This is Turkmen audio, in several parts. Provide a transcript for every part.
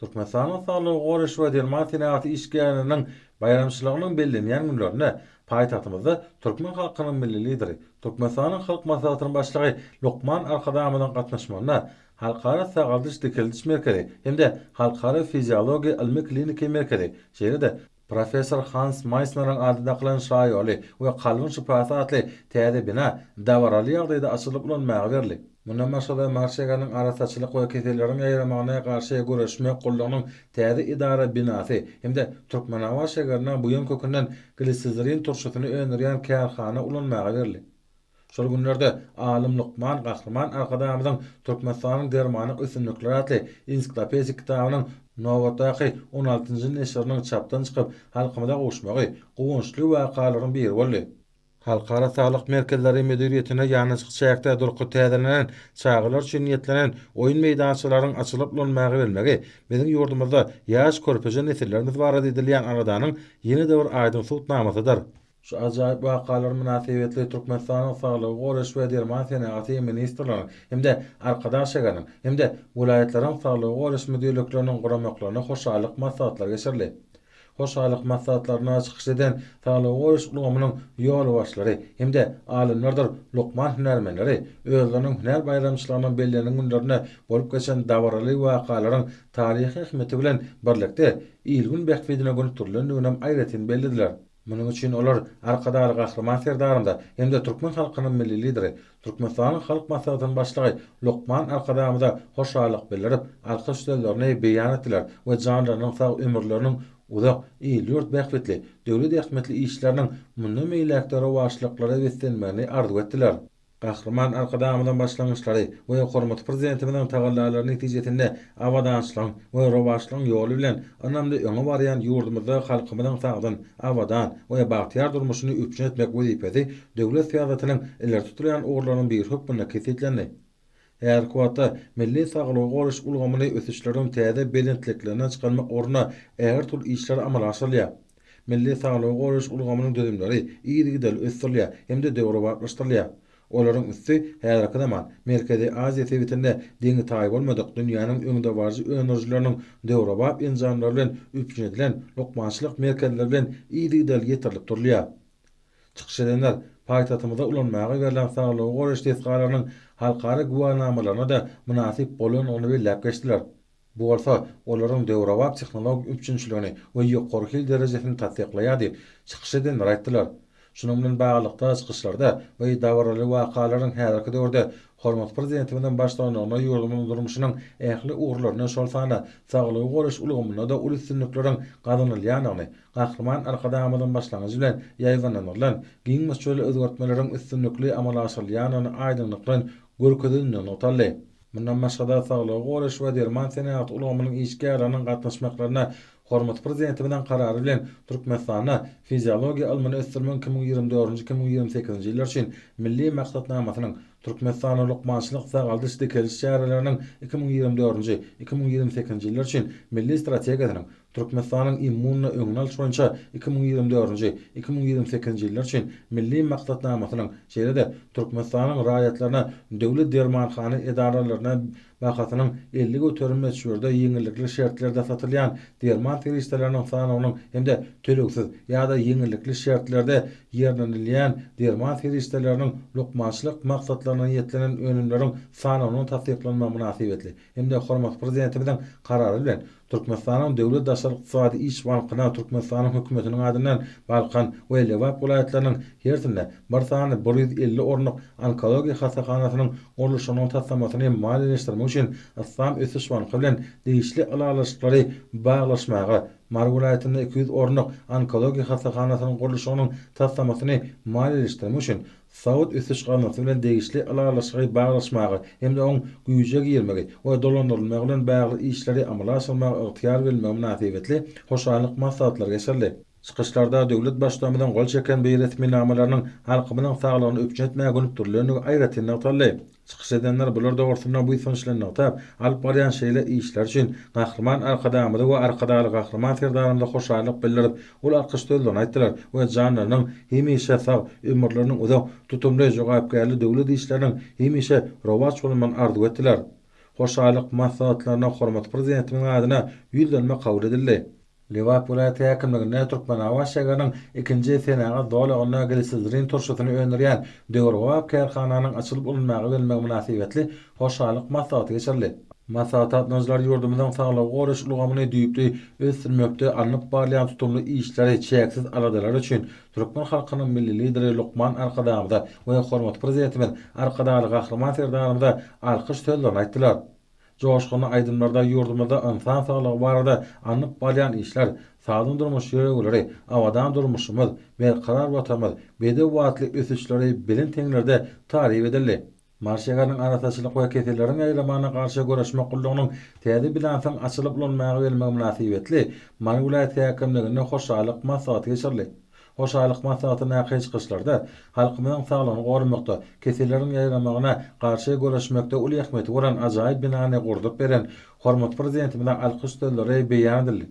Türkmenistanyň Saglygy goraýyş we derman senagaty işgärleriniň baýramçylygynyň bellenýän günlerinde paýtagtymyzda türkmen halkynyň Milli Lideri, Türkmenistanyň Halk Maslahatynyň Başlygy Lukman Arkadagymyzyň gatnaşmagynda Halkara sagaldyş-dikeldiş merkezi hem-de Halkara fiziologiýa ylmy-kliniki merkezi, şeýle-de Professor Hans Maýsneriň ady dakylan şaýoly we kalbyň şypasy atly täze bina dabaraly ýagdaýda açylyp ulanmaga berli. Mundan başga-da Marşeganyň arassaçylyk we keselleriň ýaýramagyna garşy göreşmek gullugynyň täze edara binasy hem-de Türkmenabat şägerine buýan kökünden glisizirin turşusyny öndürýän kärhana ulanmaga berli. Şol günlerde alym lukman Gahryman Arkadagymyzyň Türkmenistanyň dermanlyk ösümlikleri atly ensiklopedik kitabynyň nobatdaky on altynjy neşiriniň çapdan çykyp, halkymyza gowuşmagy guwançly wakalaryň biri boldy. Halkara saglyk merkezleri müdiriýetinde ýanaşyk çäkde durky täzelenen çagalar üçin niýetlenen oýun meýdançalaryň açylyp ulanmaga bermegi biziň ýurdumyzda ýaş körpeje nesillerimiz barada edilýän aladanyň ýene-de bir aýdyň subutnamasydyr. Şu ajaýyp wakalar mynasybetli Türkmenistanyň Saglygy goraýyş we derman senagaty ministrliginiň hem-de Arkadag şäheriniň hem-de welaýatlaryň saglygy goraýyş müdirlikleriniň guramaklarynda hoşallyk maslahatlary geçirildi. Hoşallyk maslahatlarynda çykyş eden saglygy goraýyş ulgamynyň ýolbaşçylary hem-de alymlardyr lukman hünärmenleri özleriniň hünär baýramçylygynyň bellenen günlerinde bolup geçen dabaraly wakalaryň taryhy ähmiýeti bilen birlikde, il-gün bähbidine gönükdirilendiniginem aýratyn bellediler. Munuň üçin olar Arkadagly Gahryman Serdarymyza hem-de türkmen halkynyň Milli Lideri, Türkmenistanyň Halk Maslahatynyň Başlygy lukman Arkadagymyza hoşallyk bildirip, alkyş sözlerini beýan etdiler we janlarynyň sag, ömürleriniň uzak, il-ýurt bähbitli, döwlet ähmiýetli işleriniň mundan beýläk-de rowaçlyklara beslenmegini arzuw etdiler. Gahryman Arkadagymyzyň başlangyçlary we hormatly Prezidentimiziň tagallalary netijesinde abadançylygyň we rowaçlygyň ýoly bilen ynamly öňe barýan ýurdumyzda halkymyzyň sagdyn, abadan we bagtyýar durmuşyny üpjün etmek wezipesi döwlet syýasatynyň ileri tutulýan ugurlarynyň biri hökmünde kesgitlendi. Häzirki wagtda milli saglygy goraýyş ulgamyny ösüşleriň täze belentliklerine çykarmak ugrunda ägirt uly işler amala aşyrylýar. Milli saglygy goraýyş ulgamynyň düzümleri yzygiderli ösdürilýär hem-de döwrebaplaşdyrylýar. Olaryň üsti häzirki zaman Merkezi Aziýa sebitinde deňi-taýy bolmadyk dünýäniň öňdebaryjy öndürijileriniň döwrebap enjamlary bilen üpjün edilen lukmançylyk merkezleri bilen yzygiderli ýetirilip durulýar. Çykyş edenler paýtagtymyzda ulanmaga berlen saglygy goraýyş desgalarynyň halkara güwänamalaryna-da mynasyp bolandygyny belläp geçdiler. Bu bolsa olaryň döwrebap tehnologik üpjünçiligini we ýokary hil derejesini tassyklaýar diýip, çykyş edenler aýtdylar. Şunuň bilen baglylykda, çykyşlarda we dabaraly wakalaryň häzirki döwürde hormatly Prezidentimiziň baştutanlygynda ýurdumyzyň durmuşynyň ähli ugurlarynda, şol sanda saglygy goraýyş ulgamynda-da uly üstünlikleriň gazanylýandygyny, Gahryman Arkadagymyzyň başlangyjy bilen ýaýbaňlandyrylan giň möçberli özgertmeleriň üstünlikli amala aşyrylýandygyny aýdyňlyk bilen görkezendigini nygtaldy. Mundan başga-da, saglygy goraýyş we derman senagaty ulgamynyň işgärleriniň gatnaşmaklaryna hormatly Prezidentimiziň Karary bilen Türkmenistanda Fiziologiýa ylmyny ösdürmegiň iki müň ýigrimi dördünji, iki müň ýigrimi sekizinji ýyllar üçin Milli maksatnamasynyň, Türkmenistanda lukmançylyk-sagaldyş dikeliş çäreleriniň iki müň ýigrimi dördünji, iki müň ýigrimi sekizinji ýyllar üçin Milli strategiýasynyň, Türkmenistanyň immunna öňüni alyş boýunça iki müň ýigrimi dördünji, iki müň ýigrimi sekizinji ýyllar üçin Milli maksatnamasynyň, şeýle-de Türkmenistanyň raýatlaryna döwlet dermanhana edaralaryna bahasynyň elli göterim möçberde ýeňillikli şertlerde satylýan derman serişdeleriniň sanawynyň hem-de tölegsiz ýa-da ýeňillikli şertlerde ýerlenilýän derman serişdeleriniň lukmançylyk maksatlaryna niýetlenen önümleriň sanawynyň tassyklanmagy mynasybetli hem-de hormatly Prezidentimiziň Karary bilen Türkmenistanyň Döwlet daşary ykdysady iş bankyna Türkmenistanyň Hökümetiniň adyndan Balkan we Lebap welaýatlarynyň hersinde bir sany bir ýüz elli orunlyk onkologiýa hassahanasynyň gurluşygynyň taslamasyny hem maliýeleşdirmek üçin Yslam ösüş banky bilen degişli ylalaşyklary baglaşmaga, Mary welaýatynda iki ýüz orunlyk onkologiýa hassahanasynyň gurluşygynyň taslamasyny maliýeleşdirmek üçin Saud ösüş gaznansy bilen degişli ylalaşygy baglaşmaga hem-de oň güýje girmegi we dolandyrylmagy bilen bagly işleri amala aşyrmaga ygtyýar berilmegi mynasybetli hoşallyk maslahatlary geçirildi. Çykyşlarda döwlet Baştutanymyzyň gol çeken beýresminamalarynyň halkymyzyň saglygyny üpjün etmäge gönükdirilendigi aýratyn nygtaldy. Çykyş edenler bular dogrusynda buýsançly nygtap, alyp barýan şeýle işleri üçin Gahryman Arkadagymyza we Arkadagly Gahryman Serdarymyza hoşallyk bildirip, ol alkyş sözlerini aýtdylar we janlarynyň hemişe sag, ömürleriniň uzak, tutumly, jogapkärli döwlet işleriniň hemişe rowaç bolmagyny arzuw etdiler. Hoşallyk maslahatlaryna hormatly Prezidentimiziň adyna ýüz dönme kabul edildi. Lebap welaýat häkimliginde Türkmenabaşegarynyň ikinji senagat zolagynda glisizrin turşusyny öndürýän döwrebap kärhananyň açylyp ulanyma berilmegi mynasybetli hoşallyk maslahaty geçirildi. Maslahata gatnaşyjylar ýurdumyzyň saglygy goraýyş ulgamyny düýpli ösdürmekde alnyp barylýan tutumly işleri, çäksiz aladalary üçin türkmen halkynyň Milli Lideri lukman Arkadagymyza we hormatly Prezidentimiz Arkadagly Gahryman Serdarymyza alkyş sözlerini aýtdylar. Joşgunly aýdymlarda ýurdumyzda ynsan saglygy barada alnyp barýan işler, sagdyn durmuş ýörelgeleri, abadan durmuşymyz, berkarar Watanymyz, bedew atly ösüşleri belent heňlerde taryp edildi. Marş şäheriniň arassaçylyk we keselleriň ýaýramagyna garşy göreşmek gullugynyň täze binansyň açylyp ulanmaga berilmegi mynasybetli Mary welaýat häkimliginde hoşallyk maslahaty geçirildi. Hoşallyk maslahaty Nakyý çykyşlarda halkymyzyň saglygyny goramakda, keselleriň ýaýramagyna garşy göreşmekde uly ähmiýeti bolan ajaýyp binany gurdup beren hormatly Prezidentimize alkyş sözleri beýan edildi.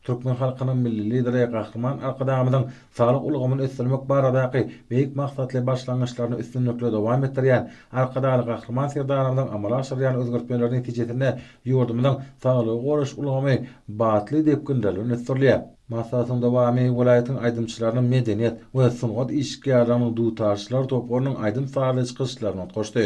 Türkmen halkynyň Milli Lideri Gahryman Arkadagymyzyň saglyk ulgamyny ösdürmek baradaky beýik maksatly başlangyçlaryny üstünlikli dowam etdirýän Arkadagly Gahryman Serdarymyzyň amala aşyrýan özgertmeleri netijesinde ýurdumyzyň saglygy goraýyş ulgamy batly depginler bilen ösdürilýär. Maslahatyň dowamy welaýatyň aýdymçylarynyň medeniýet we sungat işgärleriniň dutarçylar toparynyň aýdym-sazly çykyşlaryny utgaşdy.